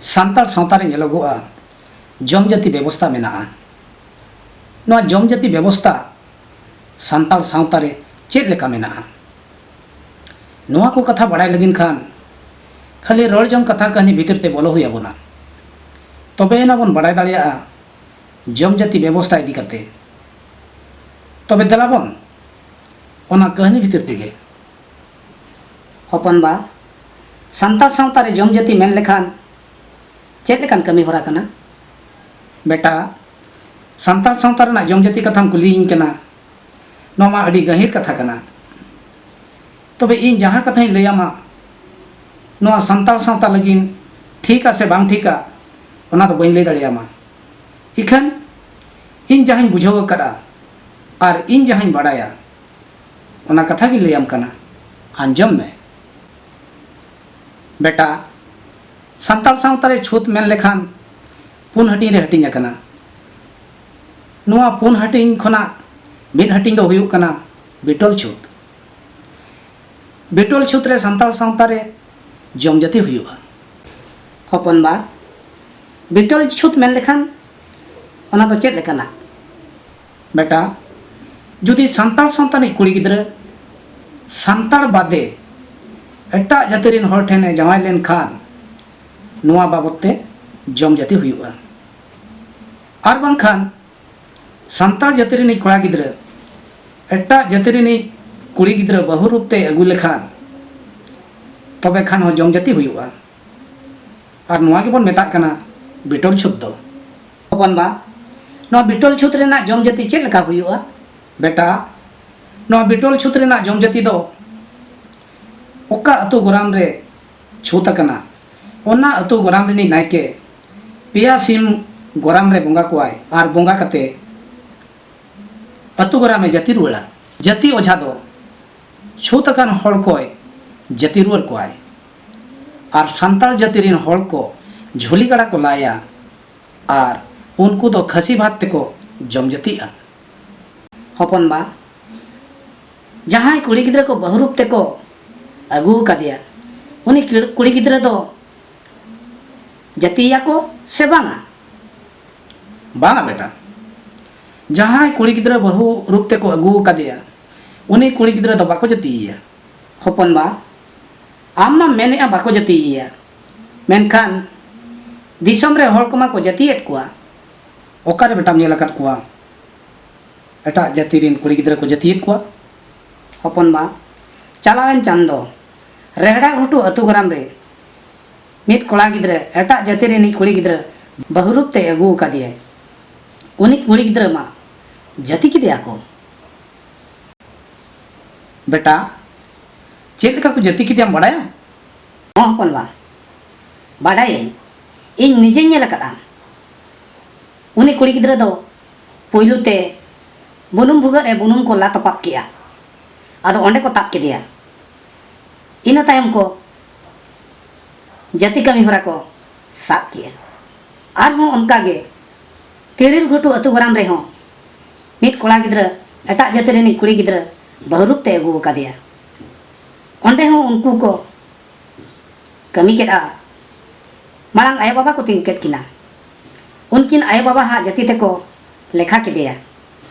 ᱥᱟᱱᱛᱟᱲ ᱥᱟᱶᱛᱟ ᱨᱮ ᱧᱮᱞᱚᱜᱚᱜᱼᱟ ᱡᱚᱢ ᱡᱟᱹᱛᱤ ᱵᱮᱵᱚᱥᱛᱟ ᱢᱮᱱᱟᱜᱼᱟ ᱱᱚᱣᱟ ᱡᱚᱢ ᱡᱟᱹᱛᱤ ᱵᱮᱵᱚᱥᱛᱟ ᱥᱟᱱᱛᱟᱲ ᱥᱟᱶᱛᱟ ᱨᱮ ᱪᱮᱫ ᱞᱮᱠᱟ ᱢᱮᱱᱟᱜᱼᱟ ᱱᱚᱣᱟ ᱠᱚ ᱠᱟᱛᱷᱟ ᱵᱟᱲᱟᱭ ᱞᱟᱹᱜᱤᱫ ᱠᱷᱟᱱ ᱠᱷᱟᱹᱞᱤ ᱨᱚᱲ ᱡᱚᱝ ᱠᱟᱛᱷᱟ ᱠᱟᱹᱦᱱᱤ ᱵᱷᱤᱛᱤᱨ ᱛᱮ ᱵᱚᱞᱚ ᱦᱩᱭ ᱟᱵᱚᱱᱟ ᱛᱚᱵᱮ ᱮᱱᱟ ᱵᱚᱱ ᱵᱟᱲᱟᱭ ᱫᱟᱲᱮᱭᱟᱜᱼᱟ ᱡᱚᱢ ᱡᱟᱹᱛᱤ ᱵᱮᱵᱚᱥᱛᱟ ᱤᱫᱤ ᱠᱟᱛᱮ ᱛᱚᱵᱮ ᱫᱮᱞᱟ ᱵᱚᱱ ᱚᱱᱟ ᱠᱟᱹᱦᱱᱤ ᱵᱷᱤᱛᱤᱨ ᱛᱮᱜᱮ ᱦᱚᱯᱚᱱ ᱵᱟ ᱥᱟᱱᱛᱟᱲ ᱥᱟᱶᱛᱟ ᱨᱮ ᱡᱚᱢ ᱡᱟᱹᱛᱤ ᱢᱮᱱ ᱞᱮᱠᱷᱟᱱ ᱪᱮᱫ ᱞᱮᱠᱟᱱ ᱠᱟᱹᱢᱤ ᱦᱚᱨᱟ ᱠᱟᱱᱟ ᱵᱮᱴᱟ ᱥᱟᱱᱛᱟᱲ ᱥᱟᱶᱛᱟ ᱨᱮᱱᱟᱜ ᱡᱚᱢ ᱡᱟᱹᱛᱤ ᱠᱟᱛᱷᱟᱢ ᱠᱩᱞᱤᱭᱤᱧ ᱠᱟᱱᱟ ᱱᱚᱣᱟ ᱢᱟ ᱟᱹᱰᱤ ᱜᱟᱹᱦᱤᱨ ᱠᱟᱛᱷᱟ ᱠᱟᱱᱟ ᱛᱚᱵᱮ ᱤᱧ ᱡᱟᱦᱟᱸ ᱠᱟᱛᱷᱟᱧ ᱞᱟᱹᱭᱟᱢᱟ ᱱᱚᱣᱟ ᱥᱟᱱᱛᱟᱲ ᱥᱟᱶᱛᱟ ᱞᱟᱹᱜᱤᱫ ᱴᱷᱤᱠᱟ ᱥᱮ ᱵᱟᱝ ᱴᱷᱤᱠᱟ ᱚᱱᱟ ᱫᱚ ᱵᱟᱹᱧ ᱞᱟᱹᱭ ᱫᱟᱲᱮᱭᱟᱢᱟ ᱤᱠᱷᱟᱹᱱ ᱤᱧ ᱡᱟᱦᱟᱸᱧ ᱵᱩᱡᱷᱟᱹᱣ ᱟᱠᱟᱫᱼᱟ ᱟᱨ ᱤᱧ ᱡᱟᱦᱟᱸᱧ ᱵᱟᱰᱟᱭᱟ ᱚᱱᱟ ᱠᱟᱛᱷᱟ ᱜᱮ ᱞᱟᱹᱭᱟᱢ ᱠᱟᱱᱟ ᱟᱸᱡᱚᱢ ᱢᱮ ᱵᱮᱴᱟ ᱥᱟᱱᱛᱟᱲ ᱥᱟᱶᱛᱟ ᱨᱮ ᱪᱷᱩᱛ ᱢᱮᱱ ᱞᱮᱠᱷᱟᱱ ᱯᱩᱱ ᱦᱟᱹᱴᱤᱧ ᱨᱮ ᱦᱟᱹᱴᱤᱧ ᱟᱠᱟᱱᱟ ᱱᱚᱣᱟ ᱯᱩᱱ ᱦᱟᱹᱴᱤᱧ ᱠᱷᱚᱱᱟᱜ ᱢᱤᱫ ᱦᱟᱹᱴᱤᱧ ᱫᱚ ᱦᱩᱭᱩᱜ ᱠᱟᱱᱟ ᱵᱤᱴᱚᱞ ᱪᱷᱩᱛ ᱵᱤᱴᱚᱞ ᱪᱷᱩᱛ ᱨᱮ ᱥᱟᱱᱛᱟᱲ ᱥᱟᱶᱛᱟ ᱨᱮ ᱡᱚᱢ ᱡᱟᱹᱛᱤ ᱦᱩᱭᱩᱜᱼᱟ ᱦᱚᱯᱚᱱ ᱵᱟ ᱵᱤᱴᱚᱞ ᱪᱷᱩᱛ ᱢᱮᱱ ᱞᱮᱠᱷᱟᱱ ᱚᱱᱟ ᱫᱚ ᱪᱮᱫ ᱞᱮᱠᱟᱱᱟ ᱵᱮᱴᱟ ᱡᱩᱫᱤ ᱥᱟᱱᱛᱟᱲ ᱥᱟᱶᱛᱟ ᱨᱤᱱᱤᱡ ᱠᱩᱲᱤ ᱜᱤᱫᱽᱨᱟᱹ ᱥᱟᱱᱛᱟᱲ ᱵᱟᱫᱮ ᱮᱴᱟᱜ ᱡᱟᱹᱛᱤ ᱨᱤᱱ ᱦᱚᱲ ᱴᱷᱮᱱᱮ ᱡᱟᱶᱟᱭ ᱞᱮᱱᱠᱷᱟᱱ ᱱᱚᱣᱟ ᱵᱟᱵᱚᱛ ᱛᱮ ᱡᱚᱢ ᱡᱟᱹᱛᱤ ᱦᱩᱭᱩᱜᱼᱟ ᱟᱨ ᱵᱟᱝᱠᱷᱟᱱ ᱥᱟᱱᱛᱟᱲ ᱡᱟᱹᱛᱤ ᱨᱤᱱᱤᱡ ᱠᱚᱲᱟ ᱜᱤᱫᱽᱨᱟᱹ ᱮᱴᱟᱜ ᱡᱟᱹᱛᱤ ᱨᱤᱱᱤᱡ ᱠᱩᱲᱤ ᱜᱤᱫᱽᱨᱟᱹ ᱵᱟᱹᱦᱩ ᱨᱩᱯ ᱛᱮ ᱟᱹᱜᱩ ᱞᱮᱠᱷᱟᱱ ᱛᱚᱵᱮ ᱠᱷᱟᱱ ᱦᱚᱸ ᱡᱚᱢ ᱡᱟᱹᱛᱤ ᱦᱩᱭᱩᱜᱼᱟ ᱟᱨ ᱱᱚᱣᱟ ᱜᱮᱵᱚᱱ ᱢᱮᱛᱟᱜ ᱠᱟᱱᱟ ᱵᱤᱴᱚᱞ ᱪᱷᱩᱛ ᱫᱚ ᱦᱚᱯᱚᱱ ᱵᱟ ᱱᱚᱣᱟ ᱵᱤᱴᱚᱞ ᱪᱷᱩᱛ ᱨᱮᱱᱟᱜ ᱡᱚᱢ ᱡᱟᱹᱛᱤ ᱪᱮᱫ ᱞᱮᱠᱟ ᱦᱩᱭᱩᱜᱼᱟ ᱵᱮᱴᱟ ᱱᱚᱣᱟ ᱵᱤᱴᱚᱞ ᱪᱷᱩᱛ ᱨᱮᱱᱟᱜ ᱡᱚᱢ ᱡᱟᱹᱛᱤ ᱫᱚ ᱚᱠᱟ ᱟᱹᱛᱩ ᱜᱚᱨᱟᱢ ᱨᱮ ᱪᱷᱩᱛ ᱟᱠᱟᱱᱟ ᱚᱱᱟ ᱟᱹᱛᱩ ᱜᱚᱨᱟᱢ ᱨᱤᱱᱤᱡ ᱱᱟᱭᱠᱮ ᱯᱮᱭᱟ ᱥᱤᱢ ᱜᱚᱨᱟᱢ ᱨᱮ ᱵᱚᱸᱜᱟ ᱠᱚᱣᱟᱭ ᱟᱨ ᱵᱚᱸᱜᱟ ᱠᱟᱛᱮ ᱟᱹᱛᱩ ᱜᱚᱨᱟᱢᱮ ᱡᱟᱹᱛᱤ ᱨᱩᱣᱟᱹᱲᱟ ᱡᱟᱹᱛᱤ ᱚᱡᱷᱟ ᱫᱚ ᱪᱷᱩᱛ ᱟᱠᱟᱱ ᱦᱚᱲ ᱠᱚᱭ ᱡᱟᱹᱛᱤ ᱨᱩᱣᱟᱹᱲ ᱠᱚᱣᱟᱭ ᱟᱨ ᱥᱟᱱᱛᱟᱲ ᱡᱟᱹᱛᱤ ᱨᱤᱱ ᱦᱚᱲ ᱠᱚ ᱡᱷᱩᱞᱤ ᱜᱟᱰᱟ ᱠᱚ ᱞᱟᱭᱟ ᱟᱨ ᱩᱱᱠᱩ ᱫᱚ ᱠᱷᱟᱹᱥᱤ ᱵᱷᱟᱛ ᱛᱮᱠᱚ ᱡᱚᱢ ᱡᱟᱹᱛᱤᱜ ᱟᱱ᱾ ᱦᱚᱯᱚᱱ ᱵᱟ ᱡᱟᱦᱟᱸᱭ ᱠᱩᱲᱤ ᱜᱤᱫᱽᱨᱟᱹ ᱠᱚ ᱵᱟᱹᱦᱩ ᱨᱩᱯ ᱛᱮᱠᱚ ᱟᱹᱜᱩ ᱟᱠᱟᱫᱮᱭᱟ ᱩᱱᱤ ᱠᱩᱲᱤ ᱜᱤᱫᱽᱨᱟᱹ ᱫᱚ ᱡᱟᱹᱛᱤᱭᱮᱭᱟ ᱠᱚ ᱥᱮ ᱵᱟᱝᱟ? ᱵᱟᱝᱟ ᱵᱮᱴᱟ᱾ ᱡᱟᱦᱟᱸᱭ ᱠᱩᱲᱤ ᱜᱤᱫᱽᱨᱟᱹ ᱵᱟᱹᱦᱩ ᱨᱩᱯ ᱛᱮᱠᱚ ᱟᱹᱜᱩ ᱟᱠᱟᱫᱮᱭᱟ ᱩᱱᱤ ᱠᱩᱲᱤ ᱜᱤᱫᱽᱨᱟᱹ ᱫᱚ ᱵᱟᱠᱚ ᱡᱟᱹᱛᱤᱭᱮᱭᱟ᱾ ᱦᱚᱯᱚᱱ ᱵᱟ᱾ ᱟᱢ ᱢᱟᱢ ᱢᱮᱱᱮᱫᱼᱟ ᱵᱟᱠᱚ ᱡᱟᱹᱛᱤᱭᱮᱭᱟ ᱢᱮᱱᱠᱷᱟᱱ ᱫᱤᱥᱚᱢ ᱨᱮ ᱦᱚᱲ ᱠᱚᱢᱟ ᱠᱚ ᱡᱟᱹᱛᱤᱭᱮᱫ ᱠᱚᱣᱟ ᱚᱠᱟᱨᱮ ᱵᱮᱴᱟᱢ ᱧᱮᱞ ᱟᱠᱟᱫ ᱠᱚᱣᱟ ᱮᱴᱟᱜ ᱡᱟᱹᱛᱤ ᱨᱮᱱ ᱠᱩᱲᱤ ᱜᱤᱫᱽᱨᱟᱹ ᱠᱚ ᱡᱟᱹᱛᱤᱭᱮᱫ ᱠᱚᱣᱟ ᱦᱚᱯᱚᱱ ᱵᱟ ᱪᱟᱞᱟᱣᱮᱱ ᱪᱟᱸᱫᱚ ᱨᱮᱦᱲᱟ ᱜᱷᱩᱴᱩ ᱟᱹᱛᱩ ᱜᱨᱟᱢ ᱨᱮ ᱢᱤᱫ ᱠᱚᱲᱟ ᱜᱤᱫᱽᱨᱟᱹ ᱮᱴᱟᱜ ᱡᱟᱹᱛᱤ ᱨᱤᱱᱤᱡ ᱠᱩᱲᱤ ᱜᱤᱫᱽᱨᱟᱹ ᱵᱟᱹᱦᱩ ᱨᱩᱯ ᱛᱮ ᱟᱹᱜᱩ ᱟᱠᱟᱫᱮᱭᱟᱭ ᱩᱱᱤ ᱠᱩᱲᱤ ᱜᱤᱫᱽᱨᱟᱹ ᱢᱟ ᱡᱟᱹᱛᱤ ᱠᱮᱫᱮᱭᱟ ᱠᱚ ᱵᱮᱴᱟ ᱪᱮᱫ ᱞᱮᱠᱟ ᱠᱚ ᱡᱟᱹᱛᱤ ᱠᱮᱫᱮᱭᱟᱢ ᱵᱟᱰᱟᱭᱟᱢ? ᱦᱚᱸ ᱦᱚᱯᱚᱱ ᱵᱟ, ᱵᱟᱰᱟᱭᱟᱹᱧ᱾ ᱤᱧ ᱱᱤᱡᱮᱧ ᱧᱮᱞ ᱟᱠᱟᱫᱼᱟ᱾ ᱩᱱᱤ ᱠᱩᱲᱤ ᱜᱤᱫᱽᱨᱟᱹ ᱫᱚ ᱯᱩᱭᱞᱩ ᱛᱮ ᱵᱩᱱᱩᱢ ᱵᱷᱩᱜᱟᱹᱜ ᱨᱮ ᱵᱩᱱᱩᱢ ᱠᱚ ᱞᱟ ᱛᱚᱯᱟᱜ ᱠᱮᱫᱼᱟ᱾ ᱟᱫᱚ ᱚᱸᱰᱮ ᱠᱚ ᱛᱟᱵ ᱠᱮᱫᱮᱭᱟ᱾ ᱤᱱᱟᱹ ᱛᱟᱭᱚᱢ ᱠᱚ ᱡᱟᱹᱛᱤ ᱠᱟᱹᱢᱤ ᱦᱚᱨᱟ ᱠᱚ ᱥᱟᱵ ᱠᱮᱫᱼᱟ᱾ ᱟᱨᱦᱚᱸ ᱚᱱᱠᱟ ᱜᱮ ᱛᱤᱨᱤᱞ ᱜᱷᱩᱴᱩ ᱟᱹᱛᱩ ᱜᱚᱨᱟᱢ ᱨᱮ ᱦᱚᱸ ᱢᱤᱫ ᱠᱚᱲᱟ ᱜᱤᱫᱽᱨᱟᱹ ᱮᱴᱟᱜ ᱡᱟᱹᱛᱤ ᱨᱤᱱᱤᱡ ᱠᱩᱲᱤ ᱜᱤᱫᱽᱨᱟᱹ ᱵᱟᱹᱦᱩ ᱨᱩᱯ ᱛᱮ ᱟᱹᱜᱩ ᱟᱠᱟᱫᱮᱭᱟ᱾ ᱚᱸᱰᱮ ᱦᱚᱸ ᱩᱱᱠᱩ ᱠᱚ ᱠᱟᱹᱢᱤ ᱠᱮᱫᱼᱟ ᱢᱟᱲᱟᱝ ᱟᱭᱳ ᱵᱟᱵᱟ ᱠᱚ ᱛᱤᱸᱜᱩ ᱠᱮᱫ ᱠᱤᱱᱟ ᱩᱱᱠᱤᱱ ᱟᱭᱳ ᱵᱟᱵᱟ ᱦᱟᱜ ᱡᱟᱹᱛᱤ ᱛᱮᱠᱚ ᱞᱮᱠᱷᱟ ᱠᱮᱫᱮᱭᱟ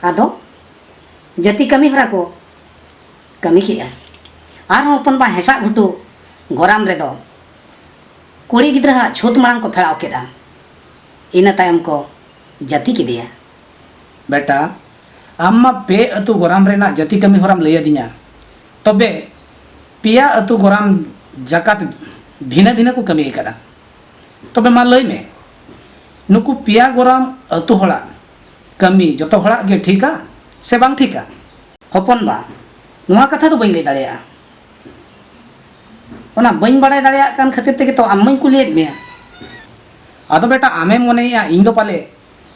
ᱟᱫᱚ ᱡᱟᱹᱛᱤ ᱠᱟᱹᱢᱤ ᱦᱚᱨᱟ ᱠᱚ ᱠᱟᱹᱢᱤ ᱠᱮᱫᱼᱟ ᱟᱨᱦᱚᱸ ᱦᱚᱯᱚᱱ ᱵᱟ ᱦᱮᱸᱥᱟᱜ ᱜᱷᱩᱴᱩ ᱜᱚᱨᱟᱢ ᱨᱮᱫᱚ ᱠᱩᱲᱤ ᱜᱤᱫᱽᱨᱟᱹ ᱦᱟᱜ ᱪᱷᱩᱛ ᱢᱟᱲᱟᱝ ᱠᱚ ᱯᱷᱮᱲᱟᱣ ᱠᱮᱫᱼᱟ ᱤᱱᱟᱹ ᱛᱟᱭᱚᱢ ᱠᱚ ᱡᱟᱹᱛᱤ ᱠᱮᱫᱮᱭᱟ ᱵᱮᱴᱟ ᱟᱢ ᱢᱟ ᱯᱮ ᱟᱹᱛᱩ ᱜᱚᱨᱟᱢ ᱨᱮᱱᱟᱜ ᱡᱟᱹᱛᱤ ᱠᱟᱹᱢᱤ ᱦᱚᱨᱟᱢ ᱞᱟᱹᱭ ᱟᱹᱫᱤᱧᱟ ᱛᱚᱵᱮ ᱯᱮᱭᱟ ᱟᱹᱛᱩ ᱜᱚᱨᱟᱢ ᱡᱟᱠᱟᱛ ᱵᱷᱤᱱᱟᱹ ᱵᱷᱤᱱᱟᱹ ᱠᱚ ᱠᱟᱹᱢᱤ ᱟᱠᱟᱫᱟ ᱛᱚᱵᱮ ᱢᱟ ᱞᱟᱹᱭ ᱢᱮ ᱱᱩᱠᱩ ᱯᱮᱭᱟ ᱜᱚᱨᱟᱢ ᱟᱹᱛᱩ ᱦᱚᱲᱟᱜ ᱠᱟᱹᱢᱤ ᱡᱚᱛᱚ ᱦᱚᱲᱟᱜ ᱜᱮ ᱴᱷᱤᱠᱟ ᱥᱮ ᱵᱟᱝ ᱴᱷᱤᱠᱟ ᱦᱚᱯᱚᱱ ᱵᱟ ᱱᱚᱣᱟ ᱠᱟᱛᱷᱟ ᱫᱚ ᱵᱟᱹᱧ ᱞᱟᱹᱭ ᱫᱟᱲᱮᱭᱟᱜᱼᱟ ᱚᱱᱟ ᱵᱟᱹᱧ ᱵᱟᱲᱟᱭ ᱫᱟᱲᱮᱭᱟᱜ ᱠᱟᱱ ᱠᱷᱟᱹᱛᱤᱨ ᱛᱮᱜᱮ ᱛᱚ ᱟᱢ ᱢᱟᱹᱧ ᱠᱩᱞᱤᱭᱮᱫ ᱢᱮᱭᱟ ᱟᱫᱚ ᱵᱮᱴᱟ ᱟᱢᱮᱢ ᱢᱚᱱᱮᱭᱮᱜᱼᱟ ᱤᱧ ᱫᱚ ᱯᱟᱞᱮ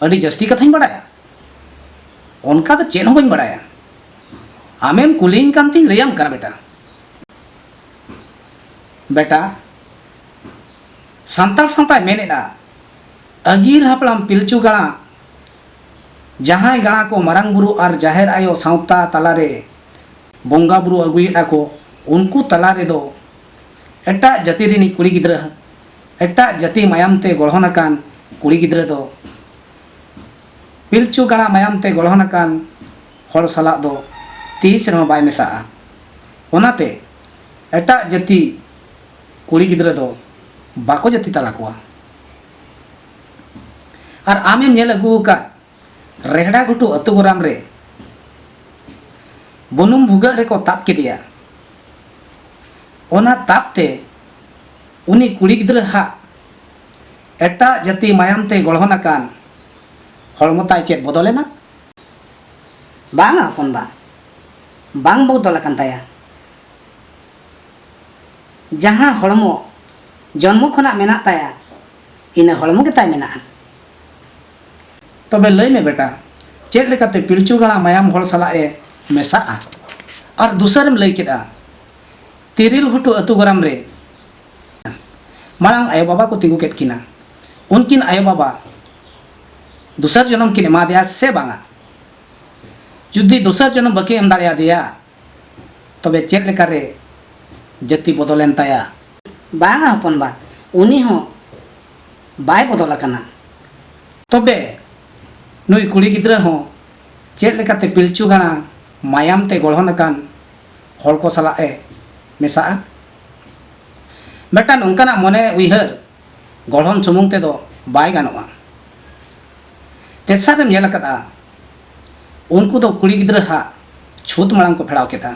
ᱟᱹᱰᱤ ᱡᱟᱹᱥᱛᱤ ᱠᱟᱛᱷᱟᱧ ᱵᱟᱲᱟᱭᱟ ᱚᱱᱠᱟ ᱫᱚ ᱪᱮᱫ ᱦᱚᱸ ᱵᱟᱹᱧ ᱵᱟᱲᱟᱭᱟ ᱟᱢᱮᱢ ᱠᱩᱞᱤᱧ ᱠᱟᱱ ᱛᱤᱧ ᱞᱟᱹᱭᱟᱢ ᱠᱟᱱᱟ ᱵᱮᱴᱟ ᱵᱮᱴᱟ ᱥᱟᱱᱛᱟᱲ ᱥᱟᱶᱛᱟᱭ ᱢᱮᱱᱮᱫᱼᱟ ᱟᱹᱜᱤᱞ ᱦᱟᱯᱲᱟᱢ ᱯᱤᱞᱪᱩ ᱜᱟᱬᱟ ᱡᱟᱦᱟᱸᱭ ᱜᱟᱬᱟ ᱠᱚ ᱢᱟᱨᱟᱝ ᱵᱩᱨᱩ ᱟᱨ ᱡᱟᱦᱮᱨ ᱟᱭᱳ ᱥᱟᱶᱛᱟ ᱛᱟᱞᱟᱨᱮ ᱵᱚᱸᱜᱟ ᱵᱩᱨᱩ ᱟᱹᱜᱩᱭᱮᱫᱼᱟ ᱠᱚ ᱩᱱᱠᱩ ᱛᱟᱞᱟ ᱨᱮᱫᱚ ᱮᱴᱟᱜ ᱡᱟᱹᱛᱤ ᱨᱤᱱᱤᱡ ᱠᱩᱲᱤ ᱜᱤᱫᱽᱨᱟᱹ ᱮᱴᱟᱜ ᱡᱟᱹᱛᱤ ᱢᱟᱭᱟᱢ ᱛᱮ ᱜᱚᱲᱦᱚᱱ ᱟᱠᱟᱱ ᱠᱩᱲᱤ ᱜᱤᱫᱽᱨᱟᱹ ᱫᱚ ᱯᱤᱞᱪᱩ ᱜᱟᱬᱟ ᱢᱟᱭᱟᱢ ᱛᱮ ᱜᱚᱲᱦᱚᱱ ᱟᱠᱟᱱ ᱦᱚᱲ ᱥᱟᱞᱟᱜ ᱫᱚ ᱛᱤᱥ ᱨᱮᱦᱚᱸ ᱵᱟᱭ ᱢᱮᱥᱟᱜᱼᱟ ᱚᱱᱟᱛᱮ ᱮᱴᱟᱜ ᱡᱟᱹᱛᱤ ᱠᱩᱲᱤ ᱜᱤᱫᱽᱨᱟᱹ ᱫᱚ ᱵᱟᱠᱚ ᱡᱟᱹᱛᱤ ᱛᱟᱞᱟ ᱠᱚᱣᱟ ᱟᱨ ᱟᱢᱮᱢ ᱧᱮᱞ ᱟᱹᱜᱩ ᱟᱠᱟᱫ ᱨᱮᱦᱲᱟ ᱜᱷᱩᱴᱩ ᱟᱹᱛᱩ ᱜᱚᱨᱟᱢ ᱨᱮ ᱵᱩᱱᱩᱢ ᱵᱷᱩᱜᱟᱹᱜ ᱨᱮᱠᱚ ᱛᱟᱵ ᱠᱮᱫᱮᱭᱟ ᱚᱱᱟ ᱛᱟᱵ ᱛᱮ ᱩᱱᱤ ᱠᱩᱲᱤ ᱜᱤᱫᱽᱨᱟᱹ ᱦᱟᱜ ᱮᱴᱟᱜ ᱡᱟᱹᱛᱤ ᱢᱟᱭᱟᱢ ᱛᱮ ᱜᱚᱲᱦᱚᱱ ᱟᱠᱟᱱ ᱦᱚᱲᱢᱚ ᱛᱟᱭ ᱪᱮᱫ ᱵᱚᱫᱚᱞ ᱮᱱᱟ? ᱵᱟᱝᱼᱟ ᱦᱚᱯᱚᱱ ᱵᱟ, ᱵᱟᱝ ᱵᱚᱫᱚᱞ ᱟᱠᱟᱱ ᱛᱟᱭᱟ᱾ ᱡᱟᱦᱟᱸ ᱦᱚᱲᱢᱚ ᱡᱚᱱᱢᱚ ᱠᱷᱚᱱᱟᱜ ᱢᱮᱱᱟᱜ ᱛᱟᱭᱟ ᱤᱱᱟᱹ ᱦᱚᱲᱢᱚ ᱜᱮ ᱛᱟᱭ ᱢᱮᱱᱟᱜᱼᱟ᱾ ᱛᱚᱵᱮ ᱞᱟᱹᱭ ᱢᱮ ᱵᱮᱴᱟ, ᱪᱮᱫ ᱞᱮᱠᱟᱛᱮ ᱯᱤᱞᱪᱩ ᱜᱟᱬᱟ ᱢᱟᱭᱟᱢ ᱦᱚᱲ ᱥᱟᱞᱟᱜ ᱮ ᱢᱮᱥᱟᱜᱼᱟ? ᱟᱨ ᱫᱩᱥᱟᱹᱨᱮᱢ ᱞᱟᱹᱭ ᱠᱮᱫᱼᱟ᱾ ᱛᱤᱨᱤᱞ ᱜᱷᱩᱴᱩ ᱟᱹᱛᱩ ᱜᱚᱨᱟᱢ ᱨᱮ ᱢᱟᱲᱟᱝ ᱟᱭᱳ ᱵᱟᱵᱟ ᱠᱚ ᱛᱤᱸᱜᱩ ᱠᱮᱫ ᱠᱤᱱᱟ ᱩᱱᱠᱤᱱ ᱟᱭᱳ ᱵᱟᱵᱟ ᱫᱚᱥᱟᱨ ᱡᱚᱱᱚᱢ ᱠᱤᱱ ᱮᱢᱟᱫᱮᱭᱟ ᱥᱮ ᱵᱟᱝᱟ ᱡᱩᱫᱤ ᱫᱚᱥᱟᱨ ᱡᱚᱱᱚᱢ ᱵᱟᱹᱠᱤᱱ ᱮᱢ ᱫᱟᱲᱮᱭᱟᱫᱮᱭᱟ ᱛᱚᱵᱮ ᱪᱮᱫ ᱞᱮᱠᱟᱨᱮ ᱡᱟᱹᱛᱤ ᱵᱚᱫᱚᱞᱮᱱ ᱛᱟᱭᱟ ᱵᱟᱝᱟ ᱦᱚᱯᱚᱱ ᱵᱟ ᱩᱱᱤ ᱦᱚᱸ ᱵᱟᱭ ᱵᱚᱫᱚᱞ ᱟᱠᱟᱱᱟ ᱛᱚᱵᱮ ᱱᱩᱭ ᱠᱩᱲᱤ ᱜᱤᱫᱽᱨᱟᱹ ᱦᱚᱸ ᱪᱮᱫ ᱞᱮᱠᱟᱛᱮ ᱯᱤᱞᱪᱩ ᱜᱟᱬᱟ ᱢᱟᱭᱟᱢ ᱛᱮ ᱜᱚᱲᱦᱚᱱ ᱟᱠᱟᱱ ᱦᱚᱲ ᱠᱚ ᱥᱟᱞᱟᱜ ᱮ ᱢᱮᱥᱟᱜᱼᱟ ᱢᱤᱫᱴᱟᱝ ᱱᱚᱝᱠᱟᱱᱟᱜ ᱢᱚᱱᱮ ᱩᱭᱦᱟᱹᱨ ᱜᱚᱲᱦᱚᱱ ᱥᱩᱢᱩᱝ ᱛᱮᱫᱚ ᱵᱟᱭ ᱜᱟᱱᱚᱜᱼᱟ ᱛᱮᱥᱟᱨ ᱨᱮᱢ ᱧᱮᱞ ᱟᱠᱟᱫᱟ ᱩᱱᱠᱩ ᱫᱚ ᱠᱩᱲᱤ ᱜᱤᱫᱽᱨᱟᱹ ᱦᱟᱜ ᱪᱷᱩᱛ ᱢᱟᱲᱟᱝ ᱠᱚ ᱯᱷᱮᱲᱟᱣ ᱠᱮᱫᱟ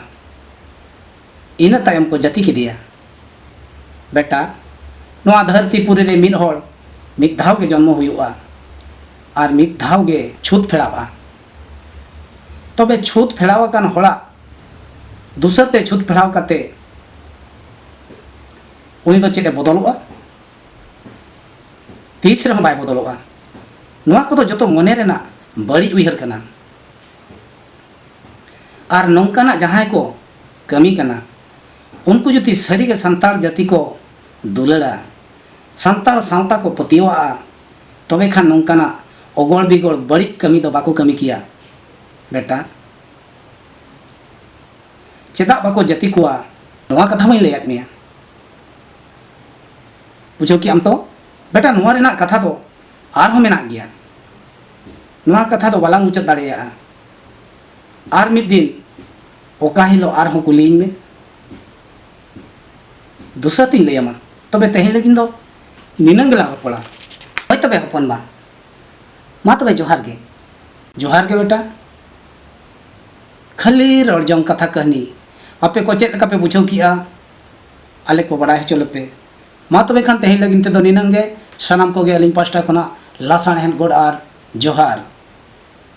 ᱤᱱᱟᱹ ᱛᱟᱭᱚᱢ ᱠᱚ ᱡᱟᱹᱛᱤ ᱠᱮᱫᱮᱭᱟ ᱵᱮᱴᱟ ᱱᱚᱣᱟ ᱫᱷᱟᱹᱨᱛᱤ ᱯᱩᱨᱤ ᱨᱮ ᱢᱤᱫ ᱦᱚᱲ ᱢᱤᱫ ᱫᱷᱟᱣ ᱜᱮ ᱡᱚᱱᱢᱚ ᱦᱩᱭᱩᱜᱼᱟ ᱟᱨ ᱢᱤᱫ ᱫᱷᱟᱣ ᱜᱮ ᱪᱷᱩᱛ ᱯᱷᱮᱲᱟᱣᱼᱟ ᱛᱚᱵᱮ ᱪᱷᱩᱛ ᱯᱷᱮᱲᱟᱣ ᱟᱠᱟᱱ ᱦᱚᱲᱟᱜ ᱫᱩᱥᱟᱹᱨ ᱛᱮ ᱪᱷᱩᱛ ᱯᱷᱮᱲᱟᱣ ᱠᱟᱛᱮ ᱩᱱᱤ ᱫᱚ ᱪᱮᱫ ᱮ ᱵᱚᱫᱚᱞᱚᱜᱼᱟ ᱛᱤᱥ ᱨᱮᱦᱚᱸ ᱵᱟᱭ ᱵᱚᱫᱚᱞᱚᱜᱼᱟ ᱱᱚᱣᱟ ᱠᱚᱫᱚ ᱡᱚᱛᱚ ᱢᱚᱱᱮ ᱨᱮᱱᱟᱜ ᱵᱟᱹᱲᱤᱡ ᱩᱭᱦᱟᱹᱨ ᱠᱟᱱᱟ ᱟᱨ ᱱᱚᱝᱠᱟᱱᱟᱜ ᱡᱟᱦᱟᱸᱭ ᱠᱚ ᱠᱟᱹᱢᱤ ᱠᱟᱱᱟ ᱩᱱᱠᱩ ᱡᱩᱫᱤ ᱥᱟᱹᱨᱤᱜᱮ ᱥᱟᱱᱛᱟᱲ ᱡᱟᱹᱛᱤ ᱠᱚ ᱫᱩᱞᱟᱹᱲᱟ ᱥᱟᱱᱛᱟᱲ ᱥᱟᱶᱛᱟ ᱠᱚ ᱯᱟᱹᱛᱭᱟᱹᱣᱟᱜᱼᱟ ᱛᱚᱵᱮ ᱠᱷᱟᱱ ᱱᱚᱝᱠᱟᱱᱟᱜ ᱚᱜᱚᱲ ᱵᱤᱜᱚᱲ ᱵᱟᱹᱲᱤᱡ ᱠᱟᱹᱢᱤ ᱫᱚ ᱵᱟᱠᱚ ᱠᱟᱹᱢᱤ ᱠᱮᱭᱟ ᱵᱮᱴᱟ ᱪᱮᱫᱟᱜ ᱵᱟᱠᱚ ᱡᱟᱹᱛᱤ ᱠᱚᱣᱟ ᱱᱚᱣᱟ ᱠᱟᱛᱷᱟ ᱢᱟᱹᱧ ᱞᱟᱹᱭᱟᱫ ᱢᱮᱭᱟ ᱵᱩᱡᱷᱟᱹᱣ ᱠᱮᱜ ᱟᱢ ᱛᱚ ᱵᱮᱴᱟ ᱱᱚᱣᱟ ᱨᱮᱱᱟᱜ ᱠᱟᱛᱷᱟ ᱫᱚ ᱟᱨᱦᱚᱸ ᱢᱮᱱᱟᱜ ᱜᱮᱭᱟ ᱱᱚᱣᱟ ᱠᱟᱛᱷᱟ ᱫᱚ ᱵᱟᱞᱟᱝ ᱢᱩᱪᱟᱹᱫ ᱫᱟᱲᱮᱭᱟᱜᱼᱟ ᱟᱨ ᱢᱤᱫ ᱫᱤᱱ ᱚᱠᱟ ᱦᱤᱞᱳᱜ ᱟᱨᱦᱚᱸ ᱠᱩᱞᱤᱭᱤᱧ ᱢᱮ ᱫᱩᱥᱨᱟ ᱛᱤᱧ ᱞᱟᱹᱭᱟᱢᱟ ᱛᱚᱵᱮ ᱛᱮᱦᱮᱧ ᱞᱟᱹᱜᱤᱫ ᱫᱚ ᱱᱤᱱᱟᱹᱝ ᱜᱮᱞᱟᱝ ᱨᱚᱯᱚᱲᱟ ᱦᱳᱭ ᱛᱚᱵᱮ ᱦᱚᱯᱚᱱ ᱵᱟ ᱢᱟ ᱛᱚᱵᱮ ᱡᱚᱦᱟᱨ ᱜᱮ ᱡᱚᱦᱟᱨ ᱜᱮ ᱵᱮᱴᱟ ᱠᱷᱟᱹᱞᱤ ᱨᱚᱲ ᱡᱚᱝ ᱠᱟᱛᱷᱟ ᱠᱟᱹᱦᱱᱤ ᱟᱯᱮ ᱠᱚ ᱪᱮᱫ ᱞᱮᱠᱟ ᱯᱮ ᱵᱩᱡᱷᱟᱹᱣ ᱠᱮᱜᱼᱟ ᱟᱞᱮ ᱠᱚ ᱵᱟᱲᱟᱭ ᱦᱚᱪᱚ ᱞᱮᱯᱮ ᱢᱟ ᱛᱚᱵᱮ ᱠᱷᱟᱱ ᱛᱮᱦᱮᱧ ᱞᱟᱹᱜᱤᱫ ᱛᱮᱫᱚ ᱱᱤᱱᱟᱹᱝ ᱜᱮ ᱥᱟᱱᱟᱢ ᱠᱚᱜᱮ ᱟᱹᱞᱤᱧ ᱯᱟᱥᱴᱟ ᱠᱷᱚᱱᱟᱜ ᱞᱟᱥᱟᱬᱦᱮᱫ ᱜᱚᱰ ᱟᱨ ᱡᱚᱦᱟᱨ